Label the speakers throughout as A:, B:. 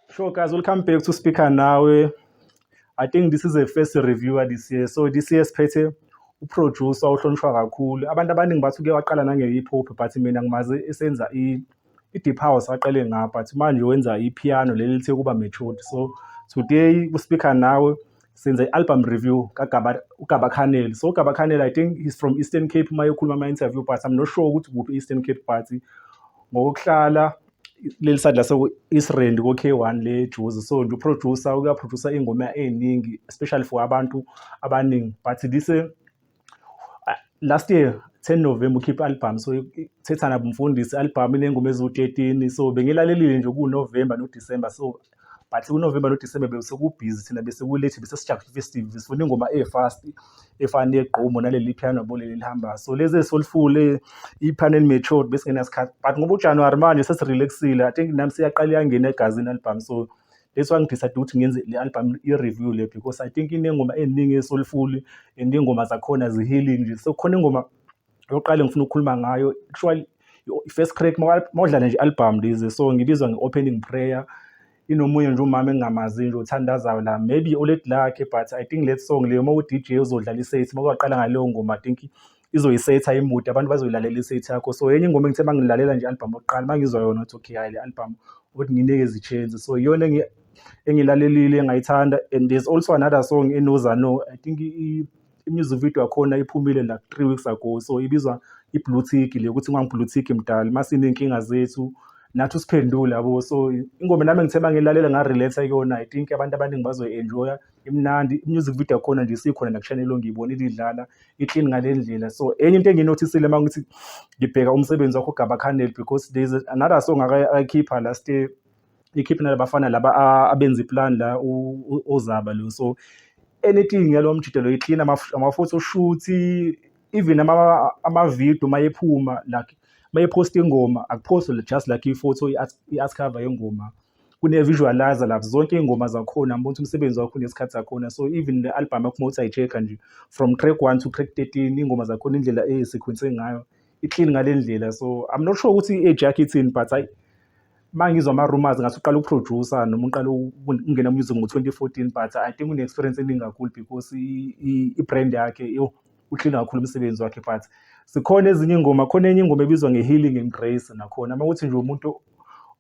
A: Sure, guys, we'll come back to speaker now. I think this is the first reviewer this year. So this year siphethe uproducer ohlonishwa kakhulu. Abantu abaningi bathi uke waqala nange-hip hop but mina ngimazi esenza i-deep house aqale ngapha but manje wenza i-piano leli lithe kuba matured. So today ku-speaker nawe senze i-album review kaGaba uGaba Khaneli so uGaba Khaneli I think he's from Eastern Cape uma ekhuluma ama interview but I'm not sure ukuthi kuphi Eastern Cape party ngokuhlala leli sadla so Israel ko K1 le Juice so nje uproducer uyaproducer ingoma eziningi especially for abantu abaningi but this last year 10 November ukhipha album so thethana bumfundisi album inengoma eziwu-13 so bengilalelile nje kuNovember noDecember so but kuNovember noDecember besekubhizi thina bese kulethe bese sijabule festive sifuna ingoma e-fast efana negqumo naleli piano bole lelihambayo so lezi esoliful i-panel matured besingenasikhathi but ngoba uJanuary manje sesirelaxile i think nami siyaqala iyangena egazini album so that's why ngidecide ukuthi ngenze le album i-review le because i think inengoma eziningi esolifuli and iy'ngoma zakhona zi-healing nje so khona ingoma yokuqala engifuna ukukhuluma ngayo actually i-first crack mawudlala nje album lezi so ngibizwa nge-opening prayer inomunye nje umama engingamazi nje othandazayo la maybe oledi lakhe but i think let song leyo uma u-dj uzodlala isethi uma kwaqala ngaleyo ngoma i think izoyisetha imude abantu bazoyilalela isethi yakho so enye ingoma engithe mangilalela nje album oqala mangizwa yona ukuthi okay hayi le album ukuthi nginike izichenzi so iyona engilalelile engayithanda and there's also another song enozano i think i-music video yakhona iphumile like three weeks ago so ibizwa i-blue tick le ukuthi ngangi-blue tick mdala masiney'nkinga zethu nathi usiphendule yabo so ingoma nami ngithe mangilalela ngarelate kuyona i think abantu abaningi bazoyi-enjoya imnandi i-music video yakhona nje isikhona nakushanelo ngiyibona ilidlala i-clean ngale ndlela so enye into engiyinothisile uma ngithi ngibheka umsebenzi wakho ugaba canel because there is another song akayikhipha last year ikhiphe nalabafana laba abenza iplan la ozaba lo so anything yalo mjidelo i-clean amafutha oshuthi even amavidiyo uma ephuma like uma ephosta ingoma akuphostwe just like ifoto i-art cover yengoma kune-visualizer lapho zonke iy'ngoma zakhona ngibona ukuthi umsebenzi wakho unesikhathi sakhona so even le albhamu yakho uma uthi ayi-check-a nje from track one to track thirteen iy'ngoma zakhona indlela eyisekhwense ngayo i-clean ngale ndlela so i'm not sure ukuthi i-age yakho ithini but hayi uma ngizwa ama-rumors ngathi uqala ukuproducer noma uqala ukungena music ngo-twenty fourteen but i think une-experience eningi kakhulu because i-brand yakhe uhlile kakhulu umsebenzi wakhe but zikhona ezinye iy'ngoma khona enye ingoma ebizwa nge-healing embrace nakhona uma ukuthi nje umuntu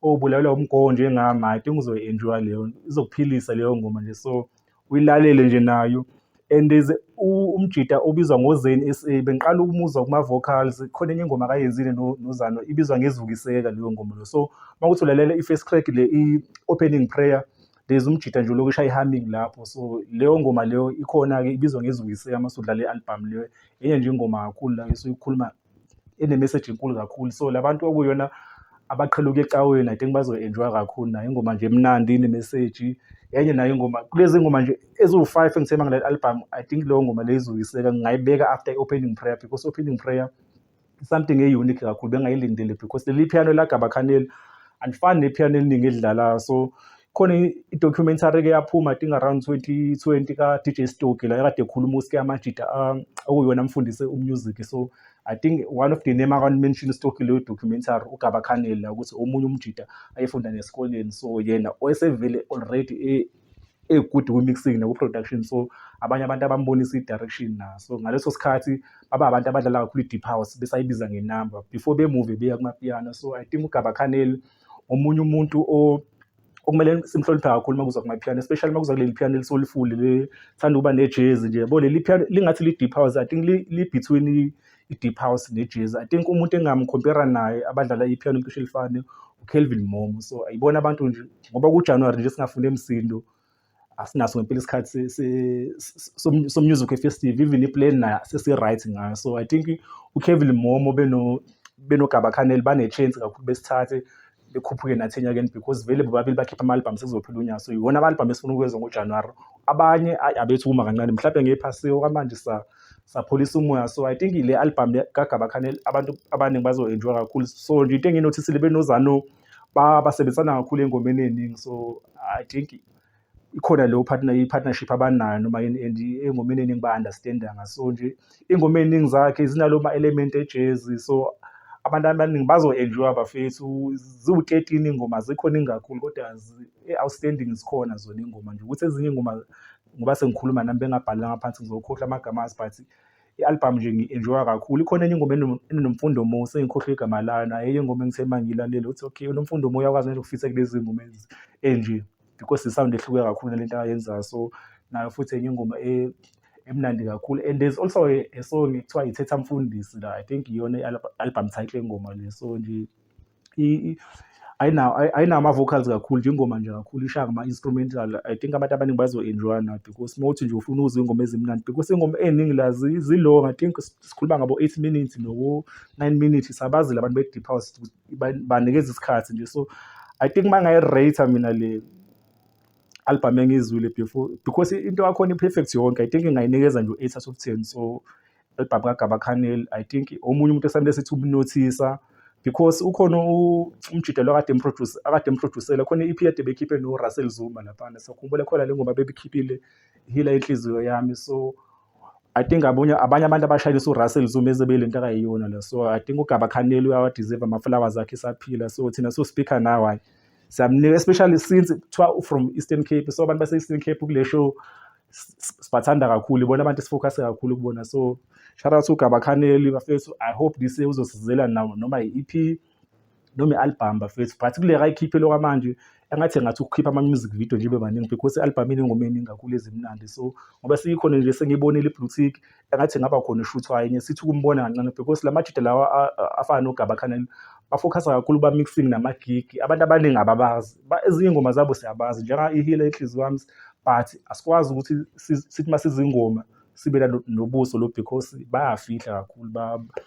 A: obulalela umgowo njengami i think uzoyi-enjoya leyo izokuphilisa leyo ngoma nje so uyilalele nje nayo and is umjita obizwa ngozeni sa bengiqala ukumuzwa kuma-vocals khona enye ingoma akayenzile nozano ibizwa ngezukiseka leyo ngoma leyo so uma kuthi ulalela i-first crack le i-opening prayer there's umjita nje lokusha i-humming lapho so leyo ngoma leyo ikhona-ke ibizwa ngezukiseka uma sudlala i-albhamu leyo enye nje ingoma kakhulu la esuyikhuluma ene-message enkulu kakhulu so la bantu okuyona abaqhela ukuya ecaweni i think bazoyi-enjoya kakhulu nayo ingoma nje emnandi ine-message enye nayo ingoma kulezi ngoma nje eziwu-five engisema ngale album i think leyo ngoma leyo izoyiseka ngingayibeka after i-opening prayer because opening prayer something e-unique kakhulu bengayilindele because leli piano elagabakhaneli andifani nepiano eliningi elidlalayo so khona i-documentary ke yaphuma i think around 2020 ka-dj stoki la ekade ekhuluma uske amajita ah, okuyona amfundise umusic so i think one of the name akanmention stoki leyo documentary ugaba khaneli la ukuthi omunye umjita ayefunda nesikoleni so yena oyesevele already e, egood kwi-mixing naku-production so abanye abantu abambonisa i-direction na so ngaleso sikhathi baba abantu abadlala kakhulu i-deep house besayibiza ngenumber before bemuve beya kumapiano so i think ugaba khaneli omunye umuntu okumele simhloniphe kakhulu uma kuza kumaphiyano especially uma kuza kuleli phiyano elisolifuli lithanda ukuba nejezi nje yabo leli phiyano lingathi li-deep house i think li-between i-deep house nejezi i think umuntu engamkhompera naye abadlala iphiyano cishe elifane ukelvin momo so ayibona abantu nje ngoba kujanuwari nje singafuni emsindo asinaso ngempela isikhathi somusic efestive even iplan nayo sesi-right ngayo so i think ukevin momo benogaba khaneli bane-chance kakhulu besithathe bekhuphuke nathi enyakeni because vele bobabili bakhipha ama-albhamu sekuzophila unyaka so yiwona ama-albhamu esifuna ukwenza ngojanuwari abanye abethu uma kancane mhlawumbe ngephasiwe kwamanje sa sapholisa umoya so i think le albhamu kagaba khaneli abantu abaningi bazo-enjoya kakhulu so nje into engiyinothisile benozano basebenzisana kakhulu engomeni eningi so i think ikhona leyo partner i-partnership abanayo noma yini and engomeni eningi ba-understandanga so nje ingoma ey'ningi zakhe zinalo ma-element ejezi so abantu abaningi bazo-enjoya bafethu ziwu-thirteen iy'ngoma azikho ningi kakhulu kodwa e-outstanding zikhona zona iy'ngoma nje ukuthi ezinye iy'ngoma ngoba sengikhuluma nami bengabhalanga phansi ngizokhohlwa amagama azi but i-albhamu nje ngi-enjoya kakhulu ikhona enye ingoma enonomfundo mo sengikhohlwe igama layo nayo enye ingoma engithe uma ngiyilalele ukuthi okay unomfundo mo uyakwazi nje ukufitha kulezi ngoma enje because i-sound ehluke kakhulu nalento ayenzayo so nayo futhi enye ingoma e, emnandi kakhulu and there's also a, a song ekuthiwa ithetha mfundisi la i think iyona i-album title engoma le so nje ayinama-vocals kakhulu nje ingoma nje kakhulu ishaya ngama-instrumental i think abantu abaningi bazo-enjoya na because uma uthi nje ufuna ukuzwa iy'ngoma ezimnandi because iy'ngoma ey'ningi la zilong i think sikhuluma ngabo-eight minutes noko-nine minutes sabazile abantu be-deep house banikeza isikhathi nje so i think uma ngayi-rate mina le album engiyizwile before because into yakhona i-perfect yonke i think ingayinikeza nje u-eight out of ten so elibhamu kaGaba Khaneli I think omunye umuntu esamele sithi ubunothisa because ukhona umjidelo akade emproduce akade emproducele khona i-EP yade bekhiphe no Russell Zuma laphana so khumbule khona le ngoba bebikhiphile hila inhliziyo yami so I think abanye abanye abantu abashayelisa uRussell Zuma eze belento akayiyona le so I think uGaba Khaneli uyawadeserve ama flowers akhe saphila so thina so speaker now hayi siyamnika especially since kuthiwa from Eastern Cape so abantu base Eastern Cape kule show sibathanda kakhulu ibona abantu esifocus kakhulu kubona so shout out to Gabakhaneli bafethu i hope this year uzosizela nawo noma i-EP noma i-album bafethu but kule kayikhiphe lokho manje engathi ngathi ukukhipha ama music video nje bebaningi because i-album inengoma eningi kakhulu ezimnandi so ngoba siyikhona nje sengiyibonile i-blue tick engathi ngaba khona ishuthwa enye sithi ukumbona kancane because la majita lawa afana nogaba khanela bafokhasa kakhulu ba-mixing namagigi abantu abaningi ababazi ezinye ingoma zabo siyabazi njenga ihile inhliziyo wami but asikwazi ukuthi sithi uma sizingoma sibe nobuso lo because bayafihla kakhulu